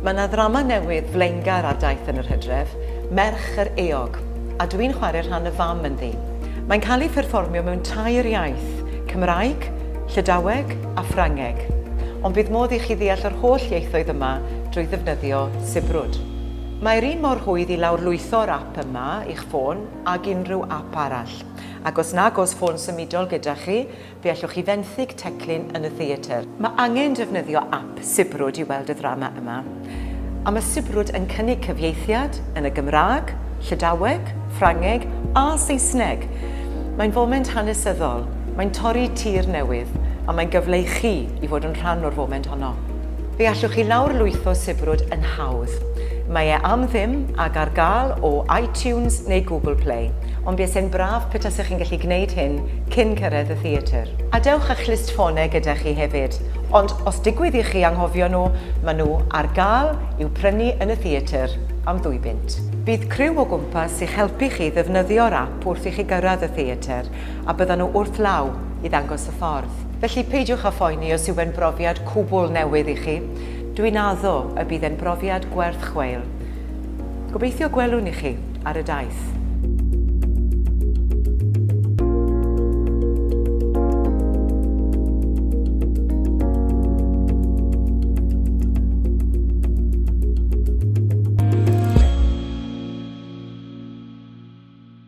Mae yna ddrama newydd flaengar ar daith yn yr hydref, Merch yr Eog, a dwi'n chwarae rhan y fam ynddi. Mae'n cael ei pherfformio mewn tair iaith, Cymraeg, Llydaweg a Ffrangeg. Ond bydd modd i chi ddeall yr holl ieithoedd yma drwy ddefnyddio sibrwd. Mae'r un mor rhwydd i lawrlwytho'r ap yma i'ch ffôn ag unrhyw ap arall. Ac os nag oes ffôn symudol gyda chi, fe allwch chi fenthyg teclyn yn y theatr. Mae angen defnyddio ap sibrwd i weld y ddrama yma. A mae sibrwd yn cynnig cyfieithiad yn y Gymraeg, Llydaweg, Ffrangeg a Saesneg. Mae'n foment hanesyddol, mae'n torri tir newydd a mae'n gyfle i chi i fod yn rhan o'r foment honno. Fe allwch chi lawrlwytho Sibrwd yn hawdd. Mae e am ddim ac ar gael o iTunes neu Google Play, ond buasai'n braf petasech chi'n gallu gwneud hyn cyn cyrraedd y theatr. A dewch â'ch list ffonau gyda chi hefyd, ond os digwydd i chi anghofio nhw, maen nhw ar gael i'w prynu yn y theatr am ddwy bunt. Bydd criw o gwmpas i'ch helpu chi ddefnyddio'r ap wrth i chi gyrraedd y theatr, a byddan nhw wrth law i ddangos y ffordd. Felly, peidiwch â phoeni os yw e'n brofiad cwbl newydd i chi, dwi'n addo y bydd e'n brofiad gwerth chweil. Gobeithio gwelwn i chi ar y daith.